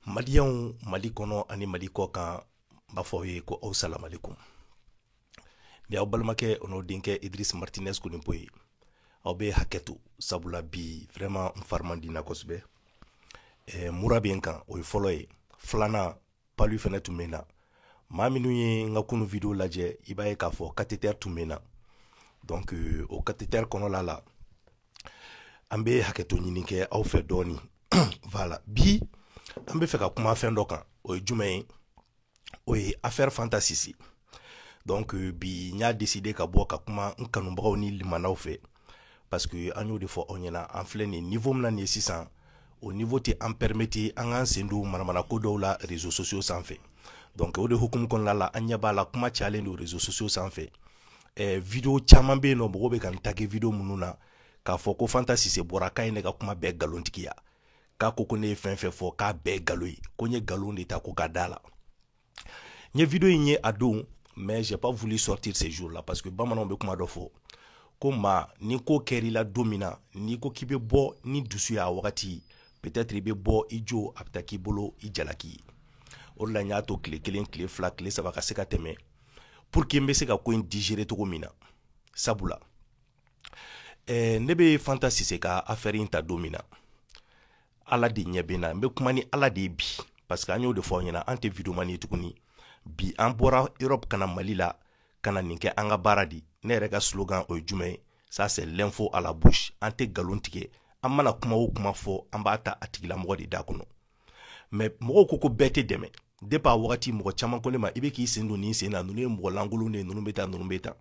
maliyanw mali kɔnɔ ani mali kɔkan n b'a fɔ aw ye ko aw salamalekum ni aw balimakɛ o n'o denkɛ idris martinez konipo ye aw bɛ hakɛ to sabula bi vraiment n fari man di n na kosɛbɛ eh, mura bɛ n kan o ye fɔlɔ ye filanan palu fɛnɛ tun bɛ n na maa minnu ye n ka kunu video lajɛ i b'a ye k'a fɔ katetɛri tun bɛ n na donc euh, o katetɛri kɔnɔla la an bɛ hakɛto ɲini kɛ aw fɛ dɔɔni voilà bi an bɛ fɛ ka kuma fɛn dɔ kan o ye jumɛn ye o ye affaire fanta sise donc euh, bi n y'a décidé ka bɔ ka kuma n kanubagaw ni limanaw fɛ parce que an y'o de fɔ aw ɲɛna an filɛ nin niveau min na nin ye sisan o niveau tɛ an permettre an k'an sen don manamanako dɔw la réseaux sociaux sanfɛ donc o de hukumu kɔnɔna la an ɲɛ b'a la kuma cayalen don réseaux sociaux sanfɛ eh, video caman bɛ yen ni mɔgɔw bɛ ka n taguer video minnu na k'a fɔ ko fanta sise bɔra k'a ye ne ka kuma bɛɛ nkalontigiya k'a ko ko ne ye fɛn fɛn fɔ k'a bɛɛ nkalon ye ko n ye nkalon de ta ko ka d'a la n ye video in ye a don mais j'ai pas voulu sortir ce jour là parce que bamananw bɛ kuma dɔ fɔ ko maa ni ko kɛr'i la don min na n'i ko k'i bɛ bɔ ni dusu y'a wagati peut-être i bɛ bɔ i jo a bɛ taa k'i bolo i jalaki ye o de la n y'a to tile kelen tile fila tile saba ka se ka tɛmɛ pour que n bɛ se ka ko in digérer cogo min na sabula eh, ne bɛ fanta sise ka affaire in ta don min na ala de ɲɛ bɛ n na n bɛ kuma ni ala de ye bi parce que an y'o de fɔ aw ɲɛna an tɛ videomani ye tuguni bi an bɔra europe ka na mali la ka na nin kɛ an ka baara di ne yɛrɛ ka slogan o ye jumɛn ye ça c'est l'info à la bouche an tɛ nkalon tigɛ an mana kuma o kuma fɔ an b'a ta a tigilamɔgɔ de da kɔnɔ mais mɔgɔw ko ko bɛɛ tɛ dɛmɛ depuis a wagati mɔgɔ caman ko ne ma i bɛ k'i sen don nin sen na ninnu ye mɔgɔ lankolon de ye ninnu bɛ taa ninnu bɛ taa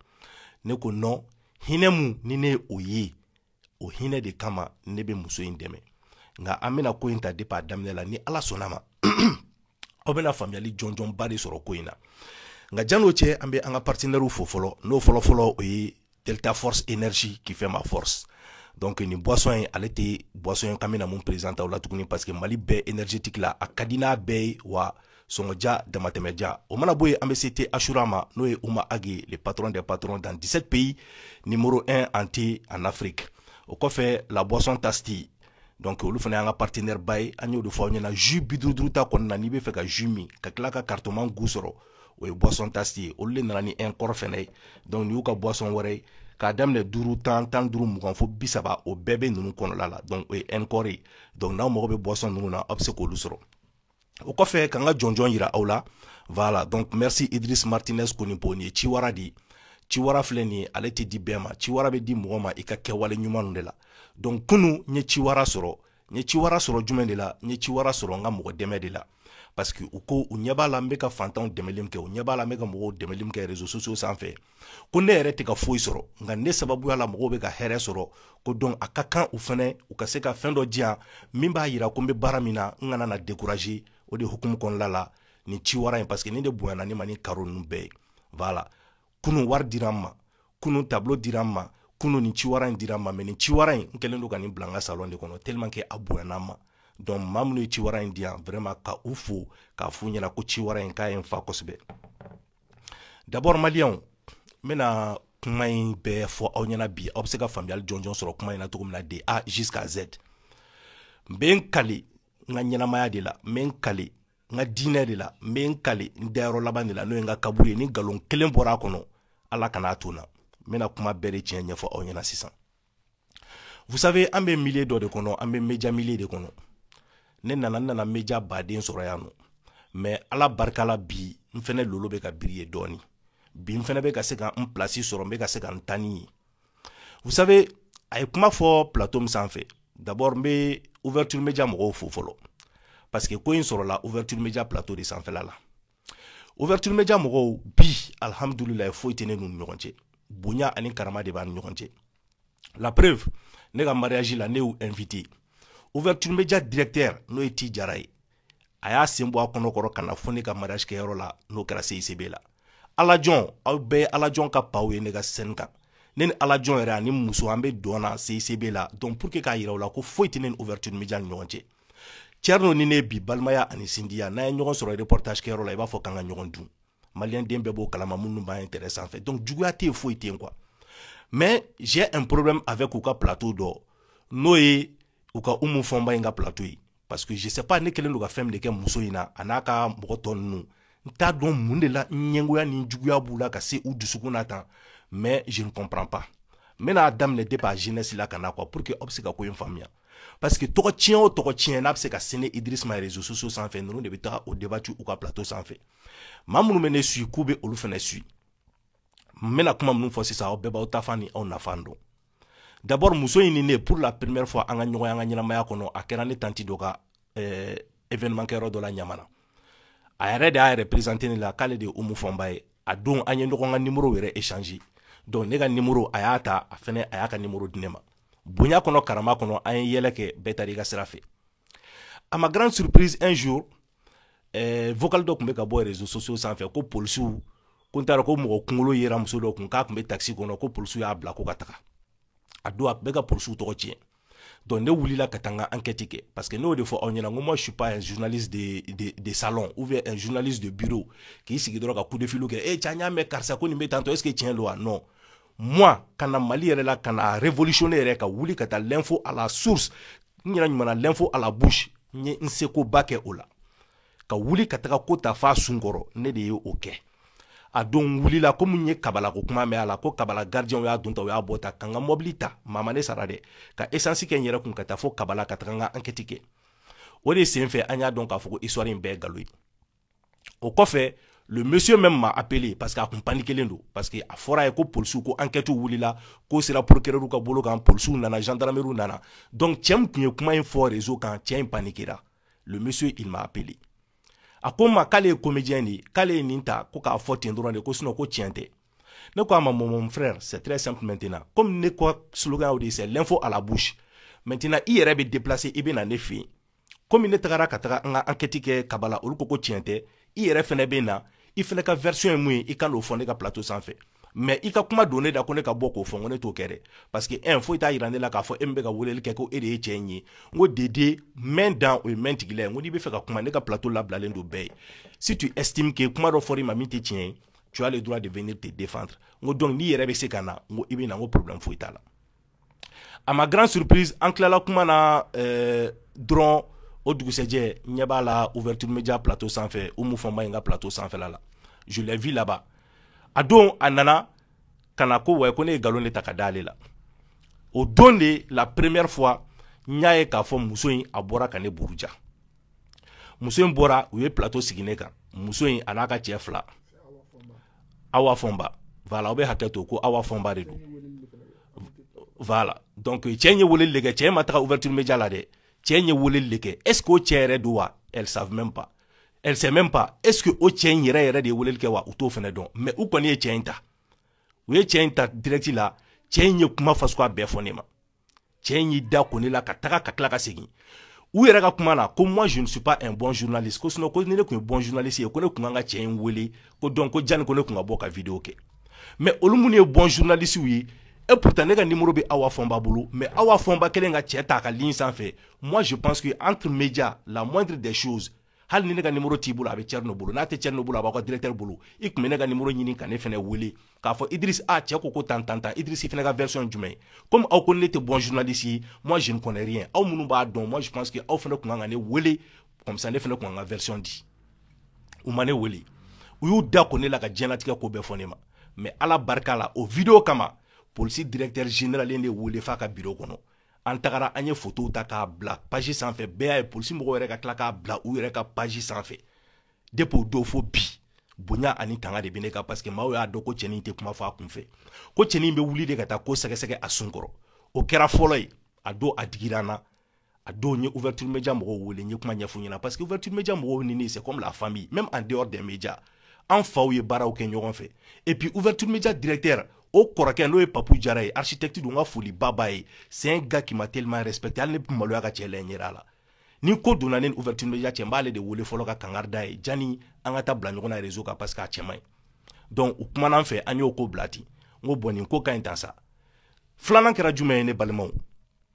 ne ko non hinɛ mun ni ne ye o ye o hinɛ de kama ne bɛ muso in dɛmɛ nka an bɛna ko in ta depuis a daminɛ la ni ala sɔnn'a ma aw bɛna faamuyali jɔnjɔnba de sɔrɔ ko in na nka jan'o cɛ an bɛ an ka partenaires fo fɔlɔ n'o fɔlɔfɔlɔ o ye delta force énergie qui fait ma force donc nin boisson in ale tɛ boisson ye k'an bɛna min présenter aw la tuguni parce que mali bɛɛ énergétique la a ka di n'a bɛɛ ye wa sɔngɔ diya damatɛmɛ diya o mana bɔ yen an bɛ se thé achoura ma n'o ye houma ag le patron des patrons dans 17 pays numéro 1 en thé en afrique o kɔfɛ la boisson tasti donc olu fana y'an ka partenaire ba ye an y'o de fɔ aw ɲɛna jus bi duuru duuru ta kɔnɔna n'i bɛ fɛ ka jus min ka tila ka cartonman goût sɔrɔ o ye boisson tasti ye olu de nana ni encore fɛnɛ ye donc nin y'u ka boisson wɛrɛ ye k'a daminɛ duuru tan tan duuru mugan fo bi saba o bɛɛ bɛ ninnu kɔnɔla la donc o ye encore ye donc n'aw mago bɛ boisson ninnu na aw bɛ se k'olu sɔrɔ o kɔfɛ ka n ka jɔnjɔn yira aw la voilà donc merci idris martinez konipo nin ye ciwara de ye ciwara filɛ nin ye ale tɛ di bɛɛ ma ciwara bɛ di mɔgɔ ma i ka kɛwale ɲumanw de la donc kunu n ye ciwara sɔrɔ n ye ciwara sɔrɔ jumɛn de la n ye ciwara sɔrɔ n ka mɔgɔ dɛmɛ de la parce que u ko u ɲɛ b'a la n bɛ ka fantanw dɛmɛli min kɛ u ɲɛ b'a la n bɛ ka mɔgɔw dɛmɛli min kɛ réseaux sociaux sanfɛ ko ne yɛrɛ tɛ ka foyi sɔrɔ nka ne sababuya la mɔgɔw bɛ ka hɛrɛ sɔrɔ ko donc a ka kan u fɛnɛ u ka se ka fɛn dɔ di yan min b'a yira ko n bɛ baara min na n kana na décourager o de hukumu kɔnɔna la nin ciwara in parce que nin de bonyana ne ma ni cadeau ninnu bɛɛ ye voilà kunun wari dira n ma kunun tableau dira n ma kunun nin ciwara in dira n ma mais nin ciwara in n kɛlen don ka nin bila n ka salon de kɔnɔ tellement que a bonyana n ma donc maa minnu ye ciwara in di yan vraiment ka u fo k'a f'u ɲɛna ko ciwara in k'a ye n fa kosɛbɛ d'abord maliyɛnw n bɛna kuma in bɛɛ fɔ aw ɲɛna bi aw bɛ se ka faamuyali jɔnjɔn sɔrɔ kuma in na cogo min na de a jusqu'à z n bɛ n kale n ka ɲɛnamaya de la n bɛ n kale n ka diinɛ de la n bɛ n kale n dayɔrɔ laban de la n'o ye n ka kaburu ye ni nkalon kelen bɔra a kɔnɔ ala kana a to n na n bɛna kuma bɛɛ de tiɲɛ ɲɛfɔ aw ɲɛna sisan vous savez an bɛ milieu dɔ de kɔnɔ an bɛ media milieu de kɔnɔ ne nana n nana media baden sɔrɔ yan nɔ mais ala barika la bi n fɛnɛ lolo bɛ ka briller dɔɔni bi n fɛnɛ bɛ ka se ka n place sɔrɔ n bɛ ka se ka n ta ni ye vous savez a ye kuma fɔ plateau min sanfɛ d'abord n bɛ ouverture media mɔgɔw fo fɔlɔ parce que ko in sɔrɔla ouverture media plateau de sanfɛla la ouverture media mɔgɔw bi alhamdulilayi foyi tɛ ne n'u ni ɲɔgɔn cɛ bonya ani karama de b'an ni ɲɔgɔn cɛ la preuve ne ka mariage la ne y'u invité ouverture media directeur n'o ye ti jara ye a y'a sen bɔ a kɔnɔ kɔrɔ ka na fo ne ka mariage kɛyɔrɔ la n'o kɛra CICB la alajɔn aw bɛɛ ye alajɔn ka paw ye ne ka scène kan ne ni alajɔn yɛrɛ ani muso an bɛ dɔn na CICB la donc pour que k'a yira u la ko foyi tɛ ne ni ouverture media ni ɲɔgɔn cɛ Thierno ni ne bi balimaya ani sinjiya n'an ye ɲɔgɔn sɔrɔ reportage kɛyɔrɔ la i b'a fɔ k'an ka ɲɔgɔn dun maliyɛn den bɛɛ b'o kalama minnu bɛ internet sanfɛ donc juguya tɛ yen foyi tɛ yen quoi mais j'ai un problème avec u ka plateau dɔ n'o ye u ka umu fɔnba in ka plateau ye parce que je sais pas ne kɛlen don ka fɛn min de kɛ muso in na a n'a ka mɔgɔ tɔ ninnu n t'a dɔn mun de la ɲɛngoya ni juguya b'u la ka se u dusukun na tan mais je ne comprends pas n bɛna a daminɛ depuis a genèse la ka na quoi pour que aw bɛ se ka ko in faamuya parce que tɔgɔ tiɲɛ o tɔgɔ tiɲɛ n'a bɛ se ka sin idris ma réseaux sociaux sanfɛ ninnu de bɛ taga o débat u ka plateau sanfɛ maa minnu bɛ ne suit k'u bɛ olu fɛnɛ suit n bɛna kuma minnu fɔ sisan aw bɛɛ b'aw tafan ni aw nafan dɔn d'abord muso in ni ne pour la première fois an ka ɲɔgɔn ye an ka ɲɛnamaya kɔnɔ a kɛra ne tanti dɔ ka euh, événement kɛyɔrɔ dɔ la ɲamana a yɛrɛ de y'a yɛrɛ présenter ne la k'ale de ye umu fɔnba ye a don an ye ɲɔgɔn ka numéro yɛrɛ échanger donc ne ka numéro a y'a ta a fɛnɛ a y'a ka numéro di ne ma bonya kɔnɔ karama kɔnɔ an ye yɛlɛ kɛ bɛɛ taara i ka sira fɛ à ma grande surprise un jour eh, vocal dɔ tun bɛ ka bɔ réseaux sociaux sanfɛ ko polisiw ko n t'a dɔn ko mɔgɔ kunkolo yera muso dɔ kun k'a tun bɛ taxi kɔnɔ ko polisiw y'a bila ko ka taga a don a tun bɛ ka polisiw tɔgɔ tiɲɛ donc ne wulila ka taa n ka enquête kɛ parce que ne y'o de fɔ aw ɲɛna n ko moi je suis pas un journaliste de, de, de salon ou bien un journaliste de bureau k'i sigi dɔrɔn ka coup de fil kɛ e eh, cɛ n y'a mɛn karisa ko nin bɛ tantɔ est ce que tiɲɛ don wa non moi ka na mali yɛrɛ la ka na révolutionner yɛrɛ ka wuli ka taa l'info à la source n yɛrɛ ɲuman na l'info à la bouche n ye n sekoba kɛ o la ka wuli ka taga ko ta f'a sun kɔrɔ ne de ye o kɛ a don wulila comme n ye kabala ko kuma mɛn a la ko kabala gardienw y'a don ta u y'a bɔ ta ka n ka mɔbili ta maa ma ne sara dɛ ka essence kɛ n yɛrɛ kun ka taa fo kabala ka taga n ka enquête kɛ o de sen fɛ an y'a dɔn k'a fɔ ko histoire in bɛɛ ye galo ye o kɔfɛ le monsieur même m'a appelé parce que a kun panikelen don parce que a fɔra a ye ko polisiw ko enquête wulila ko sera procureur ka bolo kan polisiw nana gendarmerie nana donc cɛ min tun ye kuma in fɔ réseau kan cɛ in panikera le monsieur il m'a appelé a ko n ma k'ale ye comédien de ye k'ale ye nin ta ko k'a fɔ ten dɔrɔn de ko sinon ko tiɲɛ tɛ ne ko a ma mon frère c'est très simple maintenant comme ne ka slogan y'o de ye c'est l'info à la bouche maintenant i yɛrɛ bɛ déplacer i bɛ na ne fɛ yen comme ne tagara ka taga n ka enquête kɛ kabala olu ko ko tiɲɛ tɛ i yɛrɛ fɛnɛ bɛ na i fɛnɛ ka version ye mun ye i ka n'o fɔ ne ka plateau sanfɛ mais i ka kuma don ne da ko ne ka bɔ k'o fɔ ko ne t'o kɛ dɛ parce que un foyi t'a yira ne la k'a fɔ e min bɛ ka weleli kɛ ko e de ye cɛ in ye n ko dede mɛn dan o ye mɛn tigi la ye n ko n'i bɛ fɛ ka kuma ne ka plateau labilalen don bɛɛ ye si tu estimes que kuma dɔ fɔra i ma min tɛ tiɲɛ ye tu as le droit de venir te défendre n ko donc n'i yɛrɛ bɛ se ka na n ko i bɛ na n ko problème foyi t'a la à ma grande surprise an tilala kuma na eh, dɔrɔn o dugusɛjɛ n ɲɛ b'a la ouverture média plateau sanfɛ umu fɔnba in ka plateau sanfɛla la je l'ai vu là-bas a don a nana ka na ko wa ko ne ye nkalon de ta ka da ale la o don de la première fois n y'a ye k'a fɔ muso in a bɔra ka ne buruja muso in bɔra u ye plateau sigi ne kan muso in a n'a ka cɛ fila awa fɔnba voilà aw bɛ hakɛ to ko awa fɔnba de don voilà donc cɛ in ye weleli de kɛ cɛ in ma taga ouverture média la dɛ cɛ in ye weleli de kɛ est ce que o cɛ yɛrɛ don wa elles savent même pas elle sait même pas est ce que o cɛ in yɛrɛ yɛrɛ de ye weleli kɛ wa u t'o fɛnɛ dɔn mais u kɔni ye cɛ in ta u ye cɛ in ta direct la cɛ in ye kuma fasuguya bɛɛ fɔ ne ma cɛ in y'i da ko ne la ka taga ka tila ka segin u yɛrɛ ka kuma na ko moi je ne suis pas un bon journaliste ko sinon ko ni ne kun ye bon journaliste ye ko ne kun kan ka cɛ in wele ko donc ko jani ko ne kun ka bɔ ka vidéo kɛ mais olu minnu ye bon journaliste ye et pourtant ne ka numéro bɛ awa fɔnba bolo mais awa fɔnba kɛlen ka cɛ ta a ka ligne sanfɛ moi je pense que entre médias la moindre des choses hali ni ne ka nimoro t'i bolo a bɛ Thierno bolo n'a tɛ Thierno bolo a b'aw ka directeur bolo i tun bɛ ne ka nimoro ɲini ka ne fana wele k'a fɔ idris a cɛ ko ko tan tan tan idris i fana ka version ye jumɛn ye comme aw ko ne tɛ bon journaliste ye moi je ne connais rien aw minnu b'a dɔn moi je pense que aw fana tun kan ka ne wele comme ça ne fana tun kan ka version di u ma ne wele u y'u da ko ne la ka diɲɛlatigɛ ko bɛɛ fɔ ne ma mais ala barika la o video kama polisi directeur général de wele f'a ka biro kɔnɔ an tagara an ye foto ta k'a bila paji sanfɛ bɛɛ y'a ye polisi mɔgɔw yɛrɛ ka tila k'a bila u yɛrɛ ka paji sanfɛ depi o don fo bi bonya ani tanga de bɛ ne kan paseke maaw y'a dɔn ko cɛnin tɛ kuma fɔ a kun fɛ ko cɛnin bɛ wuli de ka taa ko sɛgɛsɛgɛ a sun kɔrɔ o kɛra fɔlɔ ye a don a digira n na a don n ye ouverture media mɔgɔw wele n ye kuma ɲɛf'u ɲɛna parce que ouverture media mɔgɔw ni ne c'est comme la famille même en dehors des médias an faw ye baaraw kɛ ɲɔgɔn fɛ et puis ouverture media directeur o kɔrɔkɛ n'o ye papu jara ye architecte don n ka foli ba b'a ye c'est un gars qui m'a tellement respecté hali ne bɛ maloya ka cɛ lajɛ ɲɛda la ni ko donna ne ni ouverture media cɛ n b'ale de wele fɔlɔ ka kangari d'a ye jani an ka taa bila ɲɔgɔn na réseau kan parce que a cɛ man ɲi donc u kumana an fɛ an y'o ko bila ten n ko bon nin ko ka ɲi tan sa filanan kɛra jumɛn ye ne balimaw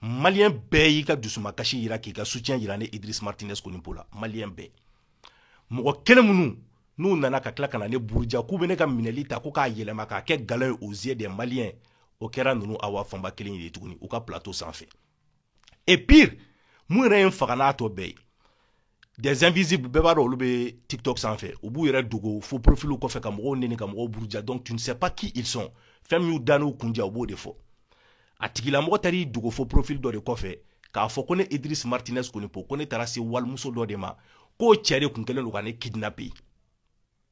maliyɛn bɛɛ y'i ka dusumakasi yira k'i ka soutien yira ne idris martinez konipo la maliyɛn bɛɛ mɔgɔ kelen minnu n'u nana ka tila ka na ne buruja k'u bɛ ne ka minɛli ta ko k'a yɛlɛma k'a kɛ galon ye aux yeux des maliens o kɛra ninnu awa fanba kelen ye tuguni u ka plateau sanfɛ et pire mun yɛrɛ ye n faga n'a tɔ bɛɛ ye des invisibles bɛɛ b'a dɔn olu bɛ tiktok sanfɛ u b'u yɛrɛ dogo faux profiliw kɔfɛ ka mɔgɔw neni ka mɔgɔw buruja donc tu ne sais pas qui ils sont fɛn min y'u da n'u kun diya u b'o de fɔ a tigilamɔgɔ taara i dogo faux profil dɔ de kɔfɛ k'a fɔ ko ne idris martinez konipo ko ne taara se walimuso dɔ de ma k'o cɛ de kun kɛlen don ka ne kidnapper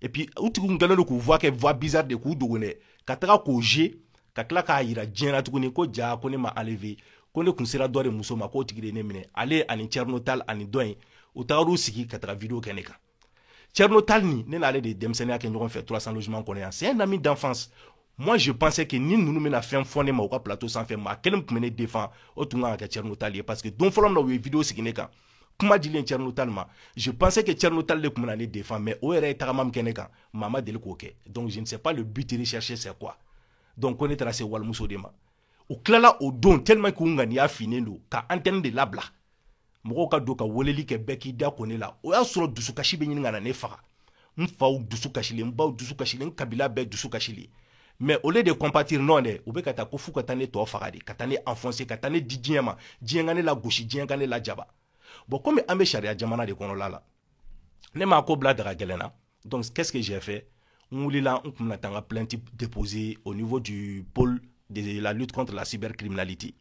et puis u tigiw kun kɛlen don k'u voix kɛ voix bizarre de k'u dogo dɛ ka taga k'o jouer ka tila k'a yira diɲɛ na tuguni ko ja ko ne ma enlever ko ne kun sera dɔ de muso ma k'o tigi de ne minɛ ale ani Thierno Tall ani dɔ in u tagar'u sigi ka taga video kɛ ne kan Thierno Tall ni ne n'ale de ye denmisɛnninya kɛ ɲɔgɔn fɛ 300 logements kɔnɔ yan c'est un ami d'enfance moi je pensais que ni ninnu bɛna fɛn fɔ ne ma u ka plateau sanfɛ maa kelen tun bɛ ne défend o tun kan ka kɛ Thierno Tall ye parce que don fɔlɔ min na u ye vidéo sigi ne kan kuma dilen Thierno Tall ma je pensais que Thierno Tall de tun bɛna ne défend mais o yɛrɛ ye tagama min kɛ ne kan maa ma deli k'o kɛ donc je ne sais pas le but recherché c'est quoi donc ko ne taara se walimuso de ma u tilala o don tellement k'u ŋaniya finnen don ka antenne de labila mɔgɔw ka don ka weleli kɛ bɛɛ k'i da ko ne la o y'a sɔrɔ dusukasi bɛ ɲini ka na ne faga n faw dusu kasilen n baw dusu kasilen n kabila bɛɛ dusu kasilen mais au lieu de compatir non dɛ u bɛ ka taa ko f'u ka taa ne tɔ faga de ka taa ne enfoncer ka taa ne di diɲɛ ma diɲɛ ka ne lagosi diɲɛ ka ne lajaba bon komi an bɛ sariya jamana de kɔnɔla la ne m'a ko bila daga gɛlɛn na Donc, qu'est-ce que j'ai fait n wulila n kun bɛna taa n ka plainte déposer au niveau du pôle de la lutte contre la cybercriminalité.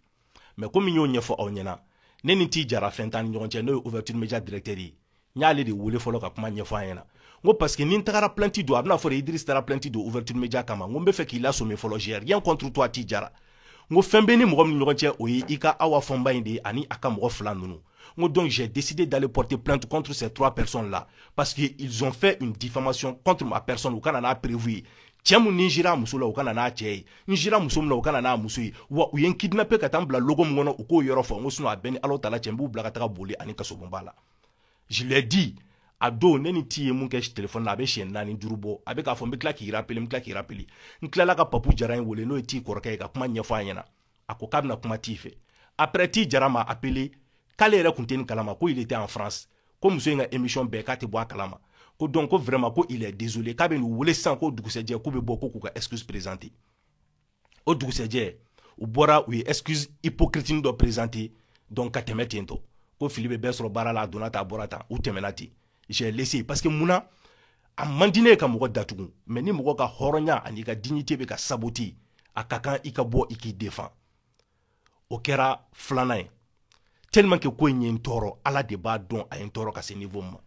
Mais comme n y'o ɲɛfɔ aw ɲɛna ne ni ti jara fɛn t'an ni ɲɔgɔn cɛ n'o ye ouverture média directeur ye n y'ale de wele fɔlɔ ka kuma ɲɛfɔ a ɲɛna n ko parce que ni n tagara plainte don a bɛna fɔ idris taara plainte don ouverture média kama n ko n bɛ fɛ k'i lasɔmi fɔlɔ j'ai rien contre toi ti jara n ko fɛn bɛ ni mɔgɔ min ni ɲɔgɔn cɛ o ye i ka awa fɔnba in de ye ani a ka mɔgɔ fila ninnu donc j'ai décidé d'aller porter plainte contre ces trois personnes là parce qu'ils ont fait une diffamation contre ma personne u ka na n'a preuve ye cɛ min ni n sira a muso la u ka na n'a cɛ ye n sira muso min na u ka na n'a muso ye wa u ye n kidnapper ka taa n bila locaux min kɔnɔ u k'o yɔrɔ fɔ n ko sinon a bɛɛ ni ala taala cɛ n b'u bila ka taga bollé ani kasobonba la je l'ai dit a don ne ni ti ye mun kɛ telefɔni na a bɛ siɲɛ naani duuru bɔ a bɛ k'a fɔ n bɛ tila k'i rapele n bɛ tila k'i rapele n tilala ka papu jara in wele n'o ye ti kɔrɔkɛ ye ka kuma ɲɛfɔ a ɲɛna a ko k'a bɛna kuma ti fɛ après ti jara m'a appelé k'ale yɛrɛ kun tɛ nin kalama ko il était en France ko muso in ka émission bɛɛ k'a tɛ bɔ a kalama ko donc ko vraiment ko il est désolé k'a bɛn'u wele sisan ko dugusɛjɛ k'u bɛ bɔ ko k'u ka excuse présenter o dugusɛjɛ u bɔra u ye excuse hypocrite dɔ présenter donc ka tɛmɛ ten tɔ ko fili bɛ bɛɛ sɔrɔ baara la a donna tan a bɔra tan u tɛmɛna ten j'ai laissé parce que munna a man di ne ye ka mɔgɔ datugu mais ni mɔgɔ ka hɔrɔnya ani i ka dignité bɛ ka saboter a ka kan i ka bɔ i k'i défend o kɛra filanan ye tellement que ko in ye n tɔɔrɔ ala de b'a dɔn a ye n tɔɔrɔ ka se niveau min ma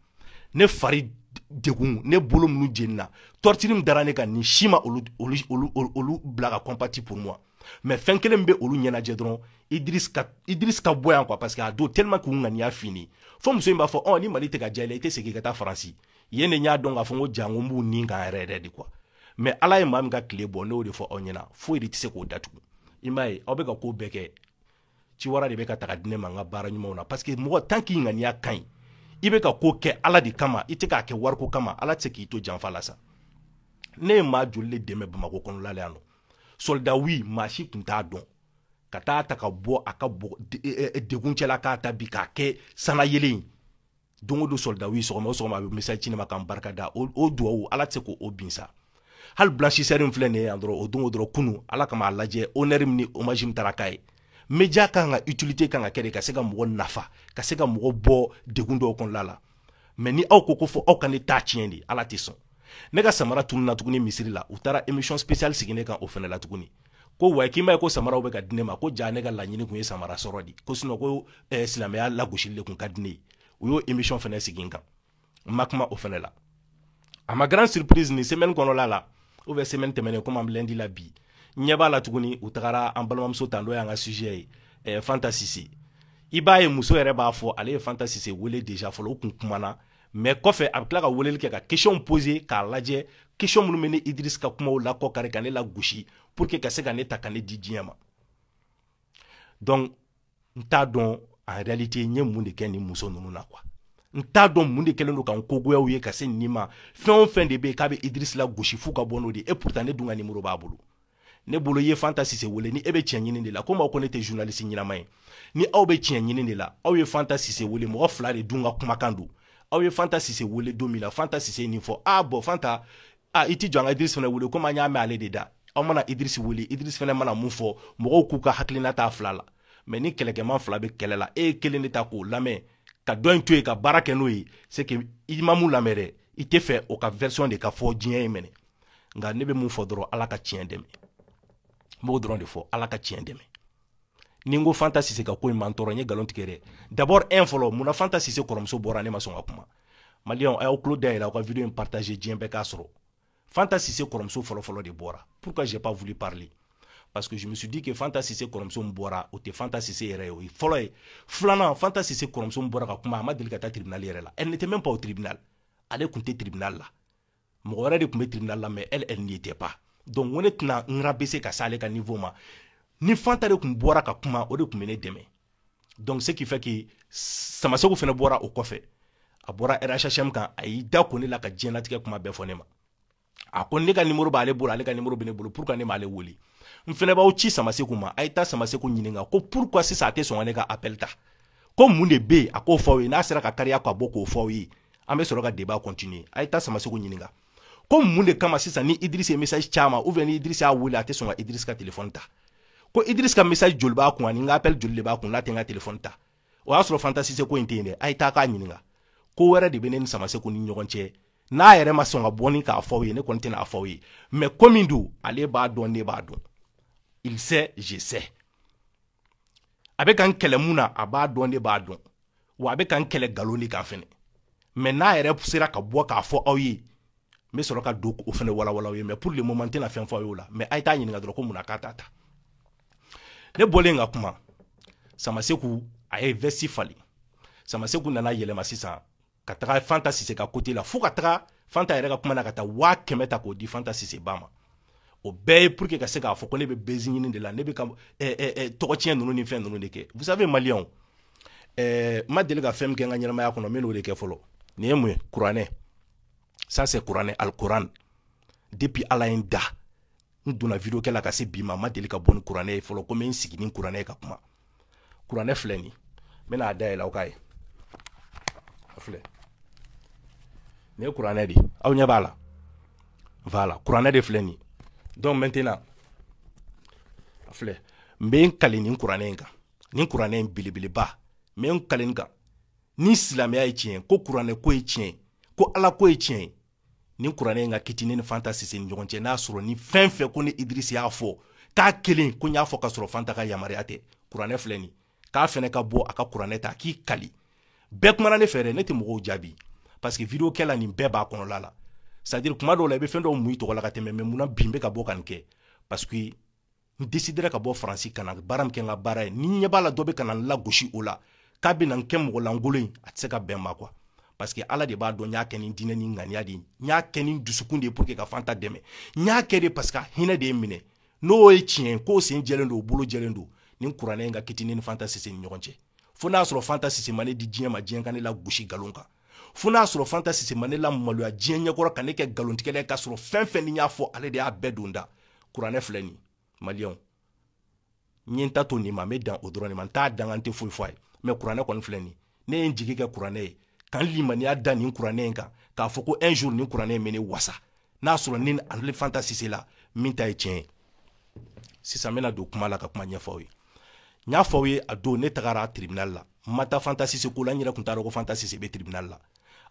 ne fari degun ne bolo minnu jenina torture min dara ne kan nin si ma olu bila ka compatir pour moi mais fɛn kelen bɛ olu ɲɛnajɛ dɔrɔn idris ka bɔ yan quoi parce que a don tellement k'u ŋaniya fini fo muso in b'a fɔ ɔ ni mali tɛ ka diya i la i tɛ segin ka taa faransi yen de n y'a dɔn k'a fɔ n ko ja n ko b'u nin kan yɛrɛ yɛrɛ de quoi mais ala ye maa min ka tile bɔ ne y'o de fɔ aw ɲɛna foyi de tɛ se k'o datugu i m'a ye aw bɛ ka ko bɛɛ kɛ ciwara de bɛ ka taga di ne ma n ka baara ɲumanw na parce que mɔgɔ tant que i ŋaniya ka ɲi i bɛ ka ko kɛ ala de kama i tɛ k'a kɛ wariko kama ala tɛ se k'i to janfa la sa ne ye maa joli de dɛmɛ bamako kɔnɔla la yan nɔ solda wi maa si tun t'a dɔn ka taa a ta ka bɔ a ka degun cɛla k'a ta bi k'a kɛ sanayelen ye don o don solda wi sɔgɔma o sɔgɔma a bɛ message ci ne ma k'an barika da o duwawu ala tɛ se k'o bin sa hali blanchisseur in filɛ nin ye yan dɔrɔn o don o dɔrɔn kunu ala kama a lajɛ honneur min ni hommage min taara k'a ye media kan ka utilité kan ka kɛ de ka se ka mɔgɔ nafa ka se ka mɔgɔ bɔ degun dɔw kɔnɔla la mais ni aw ko ko fo aw ka ne ta tiɲɛ de ala tɛ sɔn ne ka samara tununna tuguni misiri la u taara émission spéciale sigi ne kan o fana la tuguni ko wa k'i m'a ye ko samaraw bɛ ka di ne ma ko ja ne ka laɲini tun ye samara sɔrɔ de ko sinon ko eh, silamɛya lagosili de tun ka di ne ye u y'o émission fana sigi n kan n ma kuma o fana la à ma grande surprise nin semaine kɔnɔla la ou bien semaine tɛmɛnen komi an bɛ lundi la bi n ɲɛ b'a la tuguni u tagara an balimamuso ta n'o y'an ka sujet ye eh, fanta sise i b'a ye muso yɛrɛ b'a fɔ ale ye fanta sise wele déjà fɔlɔ u kun kumana mais kɔfɛ a bɛ tila ka weleli kɛ ka question poser k'a lajɛ question minnu bɛ ne idirisi ka kumaw lakɔkari ka ne lagosi pour que ka se ka ne ta ka ne di diɲɛ ma donc n t'a dɔn en réalité n ye mun de kɛ nin muso ninnu na quoi n t'a dɔn mun de kɛlen don ka n ko goya u ye ka se nin ma fɛn o fɛn de bɛ yen k'a bɛ idirisi lagosi f'u ka bɔ n'o de ye et pourtant ne dun ka nimoro b'a bolo ne bolo ye fanta sise wele ni e bɛ tiɲɛ ɲini de la komi aw ko ne tɛ journaliste ɲɛnama ye ni aw bɛ tiɲɛ ɲini de la aw ye fanta sise wele mɔgɔ fila de dun ka kumakan don aw ye fanta sise wele don min na fanta sise nin fɔ ah bon fanta a i t'i jɔ an ka idris fana wele komi an y'a mɛn ale de da aw mana idris wele idris fana mana mun fɔ mɔgɔw k'u ka hakilina t'a fila la mais ni kɛlɛkɛman fila bɛ kɛlɛ la e ye kelen de ta k'o lamɛn ka dɔ in to yen ka baara kɛ n'o ye c'est que i ma mun lamɛn dɛ i t'a fɛ o ka version de ka fɔ diɲɛ ye mɛnɛ nka ne bɛ mun fɔ dɔrɔn ala ka tiɲɛ dɛmɛ n b'o dɔrɔn de fɔ ala ka tiɲɛ dɛmɛ ni n ko fanta sise ka ko in ma n tɔɔrɔ n ye nkalon tigɛ dɛ d'abord un fɔlɔ munna fanta sise kɔrɔmuso bɔra ne ma sɔn ka kuma maliyɛnw a y'aw tulo dayɛlɛ aw ka video in partager diɲɛ bɛɛ k'a sɔrɔ fanta sise kɔrɔmuso fɔlɔfɔlɔ de bɔra pourquoi j'ai pas voulu parler parce que je me suis dit que fanta sise kɔrɔmuso min bɔra o tɛ fanta sise yɛrɛ ye o ye fɔlɔ ye filanan fanta sise kɔrɔmuso min bɔra ka kuma a ma deli ka taa tribunal yɛrɛ la elle n'était même pas au tribunal ale tun tɛ tribunal la mɔgɔ wɛrɛ de tun bɛ tribunal la mais elle elle n'y était pas donc n ko ne tɛna n rabaisser ka s'ale ka niveau ma ni fanta de tun bɔra ka kuma o de tun bɛ ne dɛmɛ donc ce qui fait que samaseku fana bɔra o kɔfɛ a bɔra rhhm kan a y'i da ko ne la ka diɲɛlatigɛ kuma bɛɛ fɔ ne ma a ko ne ka nimoro b'ale bolo ale ka nimoro bɛ ne bolo pourquoi ne m'ale wele n fana b'aw ci samaseku ma a ye taa samaseku ɲininka ko pourquoi sisan a tɛ sɔn ka ne ka appel ta ko mun de bɛ yen a k'o fɔ aw ye n'a sera ka kariya ka bɔ k'o fɔ aw ye an bɛ sɔrɔ ka débat continuer a ye taa Samaseku ɲininka ko mun de kama sisan ni Idriss ye message c'a ma ou bien ni Idriss y'a wele a tɛ sɔn ka Idriss ka téléphone ta ko Idriss ka message joli b'a kun ani n ka appel joli de b'a kun n'a tɛ n ka téléphone ta o y'a sɔrɔ Fanta Sise ko in tɛ yen dɛ a ye taa k'a ɲininka ko wɛrɛ de bɛ ne ni Samaseku ni ɲɔgɔn cɛ n'a yɛrɛ ma sɔn ka bɔ ni k'a fɔ aw ye ne kɔni tɛna a fɔ aw ye mais ko min don ale b'a dɔn ne b'a dɔn il sait je sais a bɛ ka n kɛlɛ mun na a b'a dɔn ne b'a dɔn wa a bɛ ka n kɛlɛ nkalon de kan fɛnɛ mais n'a yɛrɛ sera ka bɔ k'a fɔ aw ye n bɛ sɔrɔ ka dɔw fɛnɛ walawala aw ye mais pour le moment n tɛna fɛn fɔ aw y'o la mais a ye t'a ɲininka dɔrɔn ko mun na k'a t'a ta ne bɔlen ka kuma samaseku a ye veste falen samaseku nana yɛlɛma sisan ka taga fanta sise ka côté la fo ka taga fanta yɛrɛ ka kuma na ka taa waa kɛmɛ ta k'o di fanta sise ba ma o bɛɛ ye pour que ka se k'a fɔ ko ne bɛ buzz ɲini de la ne bɛ ka eh, eh, eh, tɔgɔtiɲɛ ninnu ni fɛn ninnu de kɛ vous savez maliyɛnw eh, n ma deli ka fɛn min kɛ n ka ɲɛnamaya kɔnɔ n bɛn'o de kɛ fɔlɔ nin ye mun ye kuranɛ ça c'est kuranɛ alikuran depuis ala ye n da n donna video kɛ la ka se bi ma n ma deli ka bɔ ni kuranɛ ye fɔlɔ ko n bɛ n sigi ni kuranɛ ye ka kuma kuranɛ filɛ nin n bɛna a dayɛlɛ aw k'a ye a filɛ nin ye kuranɛ de aw ɲɛ b'a la voilà kuranɛ de filɛ nin donc maintenant a filɛ n bɛ n kali nin kuranɛ in kan nin kuranɛ in belebeleba n bɛ n kali nin kan ni silamɛya ye tiɲɛ ko kuranɛ ko ye tiɲɛ ko ala ko ye tiɲɛ ye nin kuranɛ in ka kiti ne ni fanta sise ni ɲɔgɔn cɛ n'a sɔrɔ ni fɛn fɛn ko ni idrisi y'a fɔ k'a kelen ko n y'a fɔ ka sɔrɔ fanta ka yamaruya tɛ kuranɛ filɛ nin k'a fɛnɛ ka bɔ a ka kuranɛ ta k'i kali bɛɛ kumana ne fɛ dɛ ne tɛ mɔgɔw jaabi parce que video kɛla nin bɛɛ b'a kɔnɔla la c'est à dire kuma dɔw la i bɛ fɛn dɔw mun i tɔgɔ la ka tɛmɛ mais munna bi n bɛ ka bɔ ka nin kɛ parce que n desidera ka bɔ faransi ka na baara min kɛ n ka baara ye ni ɲɛ b'a la dɔ bɛ ka na n lagosi o la k'a bɛ na n kɛ mɔgɔ lankolon ye a tɛ se ka bɛn ma quoi parce que ala de b'a dɔn n y'a kɛ ni diinɛ ni ŋaniya de ye n y'a kɛ ni dusukun de ye pour que ka fanta dɛmɛ n y'a kɛ de parce que hinɛ de ye n minɛ n'o ye tiɲɛ ye k'o sen jɛlen don o bolo jɛlen don nin kuranɛ in ka kiti ne ni fanta sise ni ɲɔgɔn cɛ fo n'a sɔrɔ fanta sise ma ne di diɲɛ ma diɲɛ ka ne lagosi nkalon kan fo n'a sɔrɔ fanta sise ma ne lamaloya diɲɛ ɲɛkɔrɔ ka ne kɛ nkalontigɛla ye k'a sɔrɔ fɛn fɛn ne y'a fɔ ale de y'a bɛɛ don n da kuranɛ filɛ nin maliyɛnw n ye n ta to nin ma n bɛ dan o dɔrɔn de ma n t'a danga n tɛ foyi fɔ a ye mais kuranɛ kɔni filɛ nin ne ye n jigi kɛ kuranɛ ye ka n limaniya da nin kuranɛ in kan k'a fɔ ko un jour nin kuranɛ in bɛ ne wasa n'a sɔrɔ ni ale fanta sise la min ta ye tiɲɛ ye sisan n bɛna don kuma la ka kuma ɲɛfɔ aw ye n y'a fɔ aw ye a don ne tagara tribunal la n ma taa fanta sise ko la n yɛrɛ tun t'a dɔn ko fanta sise bɛ tribunal la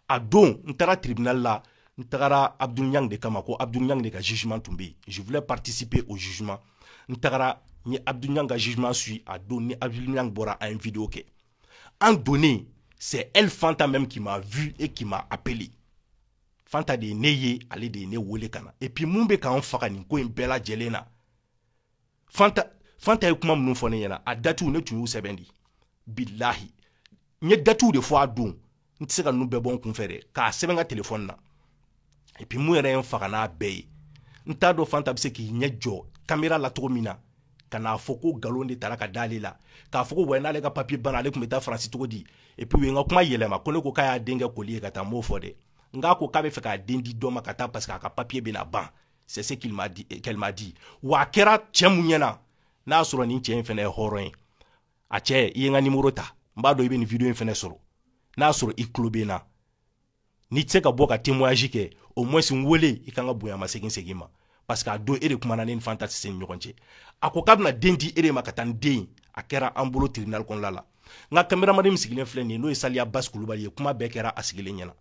a don n taara tribunal la n tagara abdul ɲang de kama ko abdul ɲang de ka jugement tun bɛ yen je voulais participer au jugement n tagara n ye abdul ɲang ka jugement suit a don ni abdul ɲang bɔra an ye video kɛ an donnen c'est elle fanta même qui m'a vu et qui m'a appelé fanta de ye ne ye ale de ye ne wele ka na et puis mun bɛ ka n faga nin ko in bɛɛ lajɛlen na fanta ye kuma minnu fɔ ne ɲɛna a datiw ne tun y'u sɛbɛn di bilahi n ye datiw de fɔ a don n tɛ se ka ninnu bɛɛ bɔ n kunfɛ dɛ k'a sɛbɛn n ka telefɔni na et puis mun yɛrɛ ye n faga n'a bɛɛ ye n t'a dɔn fanta bɛ se k'i ɲɛ jɔ kamera la cogo min na ka n'a fɔ ko nkalon de tigɛra ka d'ale la k'a fɔ ko wa n'ale ka papiye banna ale tun bɛ taa faransi cogo di et puis u ye n ka kuma yɛlɛma ko ne ko k'a y'a den kɛ colis ye ka taa n m'o fɔ dɛ n k'a ko k'a bɛ fɛ k'a den di dɔ ma ka taa parce que a ka papiye bɛna ban c'est ce qu'il m'a dit qu'elle m'a dit wa a kɛra cɛ mun ɲɛna n'a sɔrɔ nin cɛ in fana ye hɔrɔn ye a cɛ i ye n ka nimoro ta n b'a dɔn i bɛ nin video in fana sɔrɔ n'a sɔrɔ i tulo bɛ n na n'i tɛ se ka bɔ ka témoignage kɛ au moins n wele i kan ka bonya ma segin segin ma parce que a don e de kumana ne ni fanta sise ni ɲɔgɔn cɛ a ko k'a bɛna den di e de ma ka taa ni den a kɛra an bolo tribunal kɔnɔla la n ka kameramani min sigilen filɛ nin ye n'o ye saliya basi kulubali ye kuma bɛɛ kɛra a sigilen ɲɛna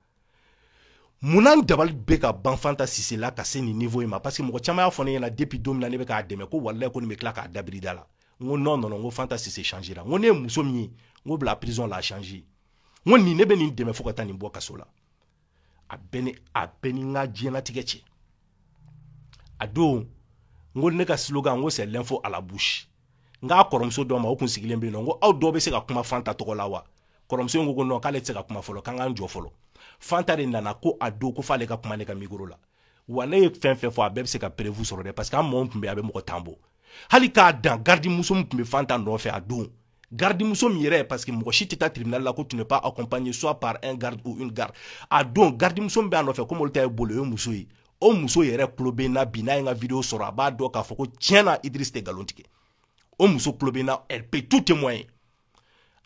munna n dabali bɛ ka ban fanta sise la ka se nin niveau in ma parce que mɔgɔ caman y'a fɔ ne ɲɛna depuis don min na ne bɛ k'a dɛmɛ ko walayi ko nin bɛ tila k'a dabiri i da la n ko non non non n ko fanta sise changera n ko ne ye muso min ye n ko bi la prison l'a changée n ko nin ne bɛ nin dɛmɛ fo ka taa nin bɔ kaso la a bɛ ni a bɛ ni n ka diɲɛlatigɛ cɛ a don n ko ne ka slogan n ko c'est l'info à la bouche n k'a kɔrɔmuso dɔ ma o kun sigilen bɛ yen nɔ n ko aw dɔw bɛ se ka kuma fanta tɔgɔ la wa kɔrɔmuso in ko ko non k'ale tɛ se ka kuma fɔlɔ k'an k'an jɔ fɔlɔ fanta de nana ko a don ko f'ale ka kuma ne ka micro la wa ne ye fɛn fɛn fɔ a bɛɛ bɛ se ka preuve sɔrɔ dɛ parce que an mɔgɔ min tun bɛ yen a bɛ mɔgɔ tan bɔ hali k'a dan gardimuso min tun bɛ fanta nɔfɛ a don gardimuso min yɛrɛ parce que mɔgɔ si tɛ taa tribunal la ko tu n'es pas accompagné soit par un garde ou une garde a don gardimuso min bɛ a nɔfɛ komi olu ta ye bolo ye muso ye o muso yɛrɛ tulo bɛ n na bi n'a ye n ka video sɔrɔ a b'a dɔn k'a fɔ ko tiɲɛ na idris tɛ nkalon tigɛ o muso tulo bɛ n na elle peut tout témoigner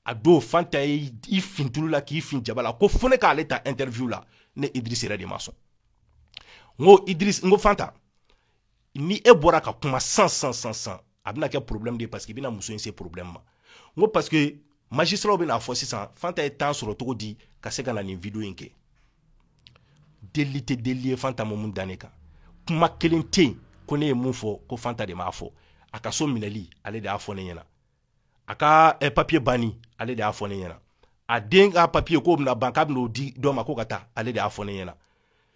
a don fanta ye i fin tulu la k'i fin jaba la ko fo ne k'ale ta interview la ne idris yɛrɛ de ma sɔn n ko idris n ko fanta ni e bɔra ka kuma sisan sisan a bɛna kɛ problème de ye parce que i bɛna muso in se problème ma n ko parce que magistraw bɛna fɔ sisan fanta ye temps sɔrɔ cogo di ka se ka na nin video in kɛ delili tɛ delili ye fanta ma mun da ne kan kuma kelen tɛ yen ko ne ye mun fɔ ko fanta de m'a fɔ a ka so minɛli ale de y'a fɔ ne ɲɛna a ka eh, papiye banni ale de y'a fɔ ne ɲɛna a den ka papiye k'o bɛna ban k'a bɛn'o di dɔ ma ko ka taa ale de y'a fɔ ne ɲɛna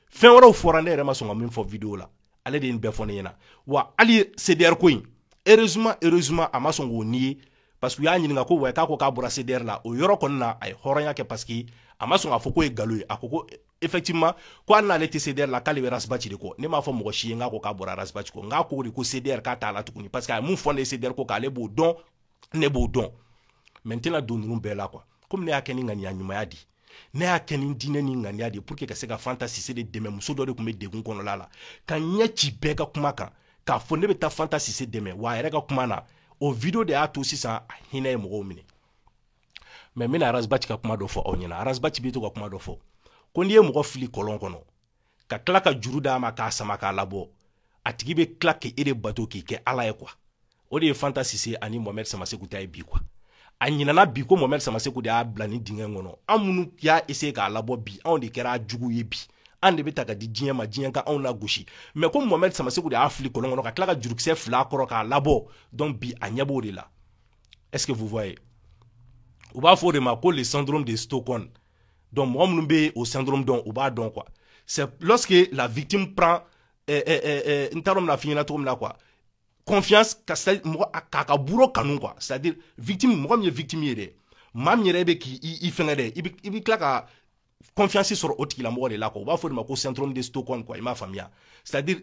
fɛn wɛrɛw fɔra ne yɛrɛ ma sɔn ka min fɔ video la ale de ye nin bɛɛ fɔ ne ɲɛna wa hali cdr ko in heureusement heureusement a ma sɔn k'o nier parce que u y'a ɲininka ko wɛ k'a ko k'a bɔra cdr la o yɔrɔ kɔni na a ye hɔrɔnya kɛ parce que a ma sɔn k'a fɔ k'o ye galon ye a ko ko effectivement ko hali n'ale tɛ CDR la k'ale bɛ Ras Bath de kɔ ne m'a fɔ mɔgɔ si ye n k'a ko k'a bɔra Ras Bath kɔ n k'a ko de ko CDR k'a t'a la tuguni parce que a ye mun fɔ ne ye CDR ko k'ale b'o dɔn ne b'o dɔn mais n tɛna don ninnu bɛɛ la quoi komi ne y'a kɛ ni ŋaniya ɲumanya de ye ne y'a kɛ ni diinɛ ni ŋaniya de ye pour que ka se ka Fanta Sise de dɛmɛ muso dɔ de tun bɛ degun kɔnɔla la ka ɲɛ ci bɛɛ ka kuma kan k'a fɔ ne bɛ taa Fanta Sise dɛmɛ wa a yɛrɛ ka kuma na o video de y'a to sisan a hinɛ ye mɔgɔw minɛ mais n bɛna ras bath ka kuma dɔ fɔ aw ɲɛna ras bath bɛ to ka kuma dɔ fɔ ko n'i ye mɔgɔ fili kɔlɔn kɔnɔ ka tila ka juru d'a ma k'a sama k'a labɔ a tigi bɛ tila k'e de bato k'i kɛ ala ye quoi o de ye fanta sise ani mohamɛd samaseku ta ye bi quoi a ɲinana bi ko mohamɛd samaseku de y'a bila nin dingɛ kɔnɔ an minnu y'a essayer k'a labɔ bi anw de kɛra jugu ye bi an de bɛ ta ka di diɲɛ ma diɲɛ ka anw lagosi mais ko mohamɛd samaseku de y'a fili kɔlɔn kɔnɔ ka tila ka jurukisɛ fil'a kɔrɔ k'a labɔ donc bi a ɲɛ b'o de la est-ce que vous voyez u b'a fɔ o de ma ko le syndrome de Stockholm donc mɔgɔ minnu bɛ o syndrome dɔn u b'a dɔn quoi c'est lorsque la victime prend eh, eh, eh, eh n t'a dɔn n bɛna f'i ɲɛna cogo min na quoi confiance ka c'est mɔgɔ k'a ka bourreau kanu quoi c'est à dire victime mɔgɔ min ye victime ye dɛ maa min yɛrɛ bɛ k'i i fɛngɛ dɛ i bɛ i bɛ tila ka confiance sɔrɔ o tigilamɔgɔ de la quoi u b'a fɔ o de ma ko syndrome de Stockholm quoi i m'a faamuya c'est à dire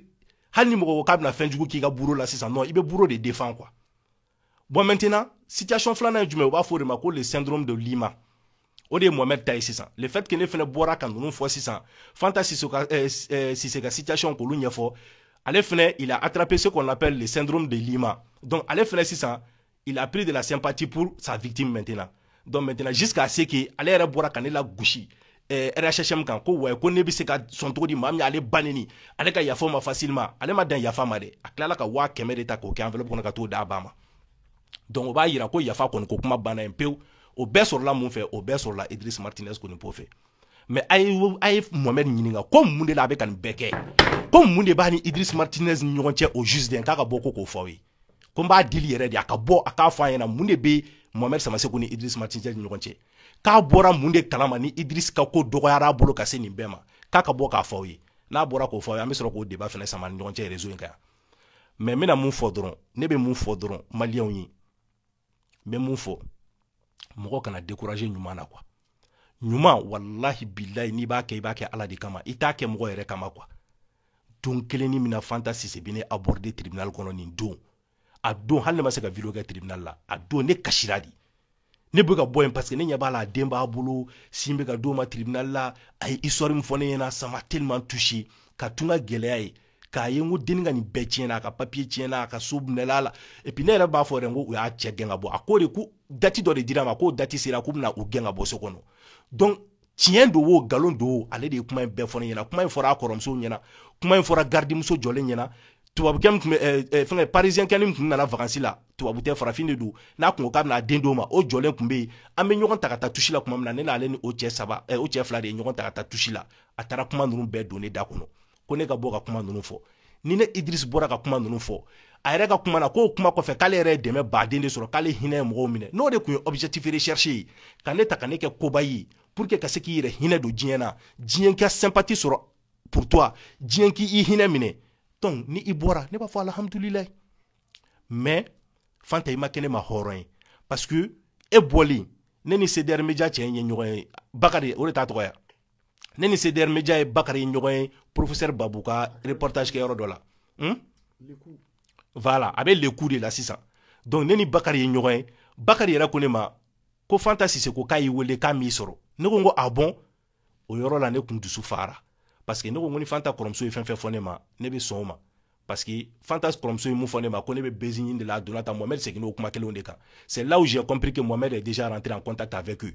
hali ni mɔgɔ ko k'a bɛna fɛn jugu k'i ka bourreau la sisan non i bɛ bourreau de défend quoi bon maintenant situation filanan ye jumɛn u b'a fɔ o de ma ko le syndrome de lima o de ye Mohamed ta ye sisan le fait que ne fɛnɛ bɔra ka ninnu fɔ sisan fanta sise ka eh, eh, sise ka situation k'olu ɲɛfɔ ale fɛnɛ il a attrapé ce qu'on appelle le syndrome de lima donc ale fɛnɛ sisan il a pris de la sympathie pour sa victime maintenant donc maintenant jusqu'à ce que ale yɛrɛ bɔra ka ne lagosi eh, RHHM kan ko ouais ko ne bɛ se ka sɔn cogo di maa min ale ba neni ale ka yafa ma facilement ale ma dan yafa ma dɛ a tilala ka waa kɛmɛ de ta k'o kɛ enveloppe kɔnɔ ka t'o d'a ba ma donc o b'a yira ko yafa kɔni ko kuma banna yen pewu o bɛɛ sɔrɔla mun fɛ o bɛɛ sɔrɔla Idriss Martinez kɔni po fɛ mais a ye a ye Mohamed ɲininka ko mun de la a bɛ ka nin bɛɛ kɛ ko mun de b'a ni Idriss Martinez ni ɲɔgɔn cɛ o juste n k'a ka bɔ ko k'o fɔ aw ye ko n b'a dili yɛrɛ de a ka bɔ a k'a fɔ a ɲɛna mun de bɛ Mohamed Samaseku ni Idriss Martinez ni ɲɔgɔn cɛ k'a bɔra mun de kalama ni Idriss ka ko dɔgɔyara a bolo ka se nin bɛɛ ma k'a ka bɔ k'a fɔ aw ye n'a bɔra k'o fɔ aw ye an bɛ sɔrɔ k'o débat fɛnɛ sama ni ɲɔgɔn cɛ réseau in kan yan mais n bɛna mun fɔ dɔrɔn ne bɛ mun fɔ dɔrɔn maliyɛnw ye n bɛ mun fɔ mɔgɔ kana décourager ɲuman na quoi ɲuman walahi bilayi n'i b'a kɛ i b'a kɛ ala de kama i t'a kɛ mɔgɔ yɛrɛ kama quoi don kelen ni min na fanta sise bɛ ne aborder tribunal kɔnɔ nin don a don hali ne ma se ka video kɛ tribunal la a don ne kasira de ne bɛ ka bɔ yen parce que ne ɲɛ b'a la a den b'a bolo sin bɛ ka d'o ma tribunal la a ye histoire min fɔ ne ɲɛna ça m'a tellement touché ka tun ka gɛlɛya ye k'a ye n ko denni ka nin bɛɛ tiɲɛna a ka papier tiɲɛna a ka so minɛla la et puis ne yɛrɛ b'a fɔ yɛrɛ n ko u y'a cɛ gɛn ka bɔ a ko de ko date dɔ de dira ma k'o date sera k'u bɛna u gɛn ka bɔ so kɔnɔ donc tiɲɛ don o nkalon don o ale de ye kuma in bɛɛ fɔ ne ɲɛna kuma in fɔra a kɔrɔmuso ɲɛna kuma in fɔra garidimuso jɔlen ɲɛna tubabukɛ min tun bɛ eh, eh, fɛngɛ parisiyɛnkɛ min tun nana vacances la tubabu tɛ farafin de don n'a kun ko k'a bɛna den d'o ma o jɔlen tun bɛ yen an bɛ ɲɔgɔn ta ka taa touche la tuma min na ne n'ale ni o cɛ saba eh, o cɛ fila de ye ɲɔgɔn ta ka taa touche la a taara kuma ninnu bɛɛ don ne da kɔnɔ ko ne ka bɔ ka kuma ninnu fɔ ni ne Idriss bɔra ka kuma ninnu fɔ a yɛrɛ ka kuma na k'o kuma kɔfɛ k'ale yɛrɛ ye dɛmɛ baden de sɔrɔ k'ale hinɛ ye mɔgɔw minɛ n'o de tun ye objectif recherché ye ka ne ta ka ne kɛ koba ye pour que ka se k'i yɛrɛ hinɛ don diɲɛ na diɲɛ ka sympathie sɔrɔ pour toi diɲɛ k'i hinɛ minɛ donc ni i bɔra ne b'a fɔ alhamdulilayi mais fanta i ma kɛ ne ma hɔrɔn ye parce que e bɔlen ne ni CDR Media cɛ in ye ɲɔgɔn ye bakari o de t'a tɔgɔ ye wa ne ni cdr media ye bakari ye ɲɔgɔn ye professeur babu ka reportage kɛ yɔrɔ dɔ la hmm? voilà a bɛ leku de la sisan donc ne ni bakari ye ɲɔgɔn ye bakari yɛrɛ ko ne ma ko fanta sise ko k'a y'i wele k'a m'i sɔrɔ ne ko n ko ah bon o yɔrɔ la ne kun dusu fara parce que ne ko n ko ni fanta kɔrɔmuso ye fɛn fɛn fɔ ne ma ne bɛ sɔn o ma parce que fanta kɔrɔmuso ye mun fɔ ne ma ko ne bɛ buzz ɲini de la a donna tan mohamɛd seginna o kuma kelenw de kan c'est là où j'ai compris que mohamɛd est déjà rentré en contact avec eux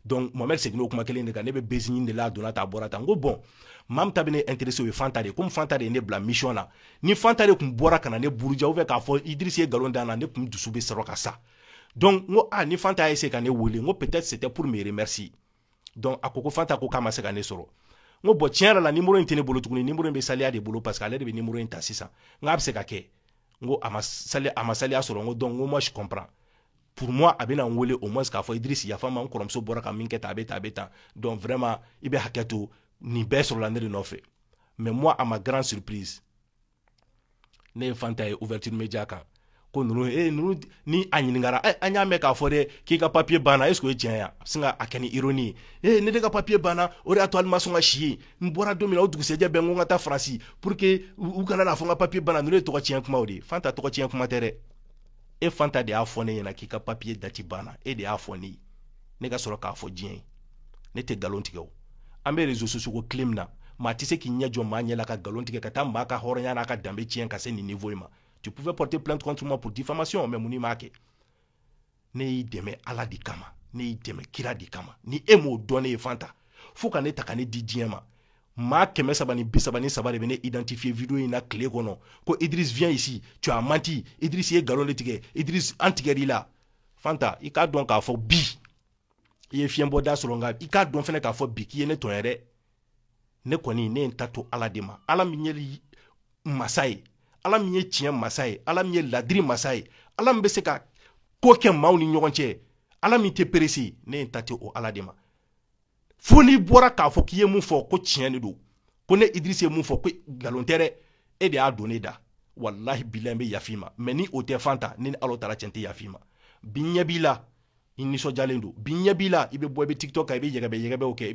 donc mohamɛd seginna o kuma kelen de kan ne bɛ buzz ɲini de la a donna tan a bɔra tan n ko bon maa min ta bɛ ne intéressé o ye fanta de ye komi fanta de ye ne bila mission na ni fanta de tun bɔra ka na ne buruja ou bien k'a fɔ idrisi ye nkalon da n na ne tun dusu bɛ sɔrɔ ka sa donc n ko a ah, ni fanta y'a essayer ka ne wele n ko peut-être c'était pour me remercier donc a ko ko fanta ko k'a ma se ka ne sɔrɔ n ko bon tiɲɛ yɛrɛ la nimoro in tɛ ne bolo tuguni nimoro in bɛ saliya de bolo parce que ale de bɛ nimoro in ta sisan n k'a bɛ se ka kɛ n ko a ma saliya a ma saliya sɔrɔ n ko donc n ko moi je comprends pour moi a bɛna n wele au moins k'a fɔ Idriss yafa n ma n kɔrɔmuso bɔra ka min kɛ tan a bɛ tan a bɛ tan donc vraiment i bɛ hakɛ to nin bɛɛ sɔrɔla ne de nɔfɛ mais moi à ma grande surprise ne ye fanta ye ouverture media kan ko ninnu e ninnu ni a ɲininkara eh, an y'a mɛn k'a fɔ dɛ k'i ka papiye banna est ce que o ye tiɲɛ ye a sin ka a kɛ ni ironie ye e ne de ka papiye banna o de y'a to hali n ma sɔn ka si yen n bɔra don min na o dugusɛjɛ bɛɛ n ko n ka taa faransi pour que u kana n'a fɔ n ka papiye banna ninnu ye tɔgɔ tiɲɛ kumaw de ye fanta tɔgɔ tiɲɛ kuma tɛ dɛ e fanta de y'a fɔ ne ɲɛna k'i ka papiye dati banna e de y'a fɔ ne ye ne ka sɔrɔ k'a fɔ diɲɛ ye ne tɛ nkalon tigɛ o an bɛ réseaux sociaux ko tile min na maa tɛ se k'i ɲɛ jɔ maa ɲɛ la ka nkalon tigɛ ka taa maa ka hɔrɔnya n'a ka danbe tiɲɛ ka se nin niveau in ma tu pouvais porter plainte contre moi pour diffamation mais mun n'i m'a kɛ ne y'i dɛmɛ ala de kama ne y'i dɛmɛ kira de kama ni e m'o dɔn ne ye fanta fo ka ne ta ka ne di diɲɛ ma maa kɛmɛ saba ni bi saba ni saba de bɛ ne identifier video in na tile kɔnɔ ko idris viens ici tu as menti idris ye nkalon de tigɛ idris an tigɛr'i la fanta i k'a dɔn k'a fɔ bi i ye fiɲɛbɔ da sɔrɔ nka i k'a dɔn fɛnɛ k'a fɔ bi k'i ye ne tɔɲɔ dɛ ne kɔni ne ye n ta to ala de ma ala min ye masa ye ala min ye tiɲɛ masa ye ala min ye ladiri masa ye ala min bɛ se ka ko kɛ maaw ni ɲɔgɔn cɛ ala min tɛ perese ne ye n ta to o ala de ma fo n'i bɔra k'a fɔ k'i ye mun fɔ ko tiɲɛ de don ko ne idrisi ye mun fɔ ko nkalon tɛ dɛ e de y'a don ne da walahi bilayi n bɛ yaf'i ma mais ni o tɛ fanta ne ni ala taala cɛ n tɛ yaf'i ma bi ɲɛ b'i la i nisɔndiyalen don bi ɲɛ b'i la i bɛ bɔ i bɛ tiktok kan i bɛ yɛgɛbɛ yɛgɛbɛw kɛ